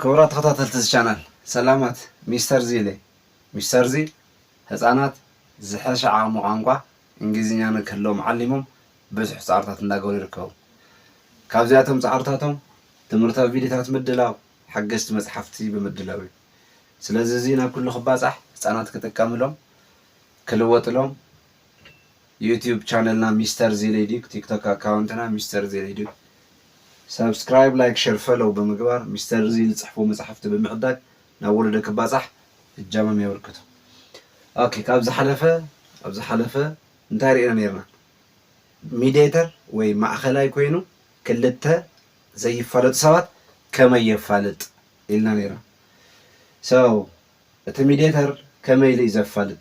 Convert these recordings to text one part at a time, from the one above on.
ክቡራት ተኸታተልቲ እዚ ቻናል ሰላማት ሚስተር ዚለ Mister Zeal ህጻናት ዝሐሸ ዓቅሚ ቋንቋ እንግሊዝኛ ንክህልዎም ዓሊሞም ብዙሕ ጻዕርታት እንዳገበሩ ይርከቡ ካብዚኣቶም ጻዕርታቶም ትምህርታዊ ቪድዮታት ምድላው ሓገዝቲ መጽሓፍቲ ብምድላው እዩ ስለዚ እዚ ናብ ኩሉ ክባጻሕ ህጻናት ክጥቀምሎም ክልወጥሎም ዩቱብ ቻነልና ሚስተር ዜሌዲግ ቲክቶክ ኣካውንትና ሚስተር ዜሌዲግ ሳብስክራይብ ላይክ ሸር ፈሎው ብምግባር ሚስተር ዚ ዝጽሕፉ መጻሕፍቲ ብምዕዳግ ናብ ወለዶ ክባጻሕ እጃሞም የበርክቱ ኦኬ ካብ ዝሓለፈ ኣብ ዝሓለፈ እንታይ ርኢና ነርና ሚዲተር ወይ ማእከላይ ኮይኑ ክልተ ዘይፋለጡ ሰባት ከመይ የፋልጥ ኢልና ነርና ሰው እቲ ሚዲተር ከመይ ኢሉ እዩ ዘፋልጥ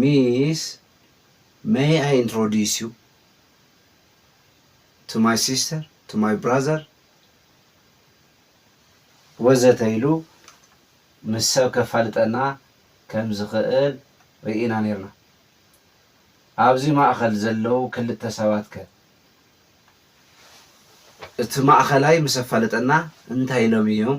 Miss may I introduce you to my sister to my brother ወዘተ ኢሉ ምስ ሰብ ከፋልጠና ከም ዝኽእል ርኢና ኔርና። ኣብዚ ማእከል ዘለዉ ክልተ ሰባት ከ? እቲ ማእከላይ ምስ ኣፋለጠና እንታይ ኢሎም ኢዮም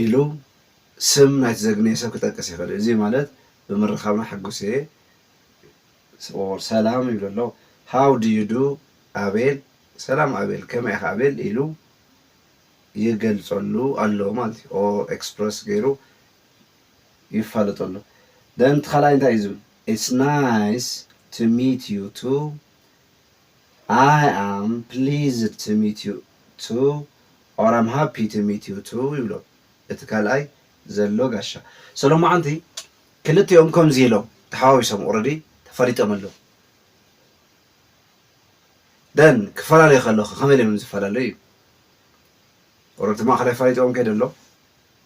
ኢሉ ስም ናይቲ ዘግነየ ሰብ ክጠቅስ ይኽእል እዩ። እዚ ማለት ብምርኻብና ሕጉስ እየ or ሰላም ይብሎ ኣሎ። How do you do ኣቤል፣ ሰላም ኣቤል፣ ከመይ ኢኻ ኣቤል ኢሉ ይገልጸሉ ኣሎ ማለት እዩ or express ገይሩ ይፋለጦ ኣሎ። Then እቲ ካልኣይ እንታይ እዩ ዝብል It's nice to meet you too ኣይ ኣም ፕሊዝድ ቱ ሚት ዩ ቱ ኦር ኣም ሃፒ ቱ ሚት ዩ ቱ ይብሎ እቲ ካልኣይ ዘሎ ጋሻ ሰሎማዓንቲ ክልቲኦም ከምዚ ኢሎም ተሓዋዊሶም ኦረዲ ተፋሊጦም ኣለዉ then ክፈላለዩ ከለዉ ከ ከመይ ኢሎም እዮም ዝፈላለዩ ኦረዲ እቲ ማእከላይ ኣፋሊጥዎም ከይዱ ኣሎ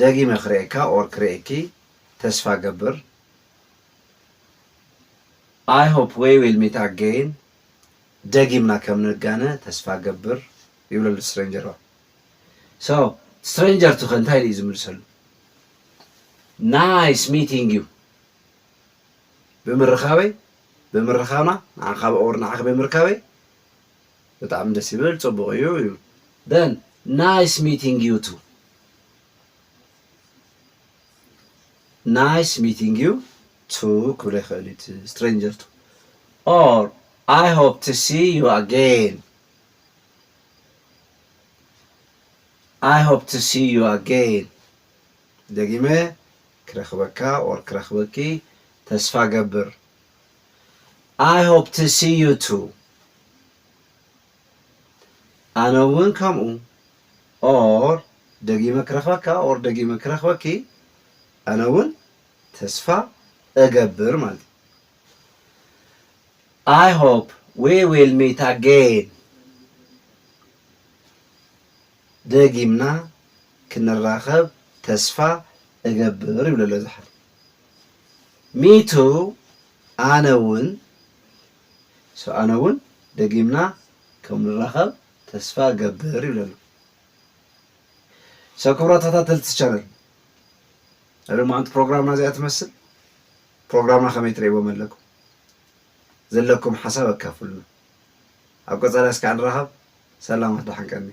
ደጊመ ክሬኤካ ኦር ክሬኤኪ ተስፋ ገብር ኣይ ሆፕ ዌይ ዊል ሚት ኣገይን ደጊምና ከም ንጋነ ተስፋ ገብር ይብለሉ ስትሬንጀርዋ ሶ ስትሬንጀር ትኸ እንታይ ድዩ ዝምልሰሉ ናይስ ሚቲንግ ዩ ብምርኻበይ ብምርኻብና ንዓኻ ኦር ንዓኺ ብምርካበይ ብጣዕሚ ደስ ይብል ጽቡቅ እዩ እዩ ደን ናይስ ሚቲንግ ዩ ቱ ናይስ ሚቲንግ ዩ ቱ ክብሎ ይክእል እዩ እቲ ስትሬንጀር ቱ ኦር ኣይ ሆፕ ቱ ሲ ዩ ኣጌን ኣይ ሆፕ ቱ ሲ ዩ ኣጌን ደጊመ ክረክበካ ኦር ክረክበኪ ተስፋ ገብር I hope to see you too ኣነ እውን ከምኡ or ደጊመ ክረኽበካ or ደጊመ ክረኽበኪ ኣነ እውን ተስፋ እገብር ማለት እዩ። I hope we will meet again ደጊምና ክንራኸብ ተስፋ እገብር ይብሎ ኣሎ እዚ ሓው። Me too ኣነ ውን so ኣነ ውን ደጊምና ከም ንራኸብ ተስፋ እገብር ይብል ኣሎ so ክብራት ተኸታተልቲ channel ናይ ሎማዓንቲ ፕሮግራምና እዚኣ ትመስል ፕሮግራምና ከመይ ትርእይዎም ኣለኩም ዘለኩም ሓሳብ ኣካፍሉና ኣብ ቀጻሊ ኣስካዕ ንራኸብ ሰላማት ደሓን ቀንዩ።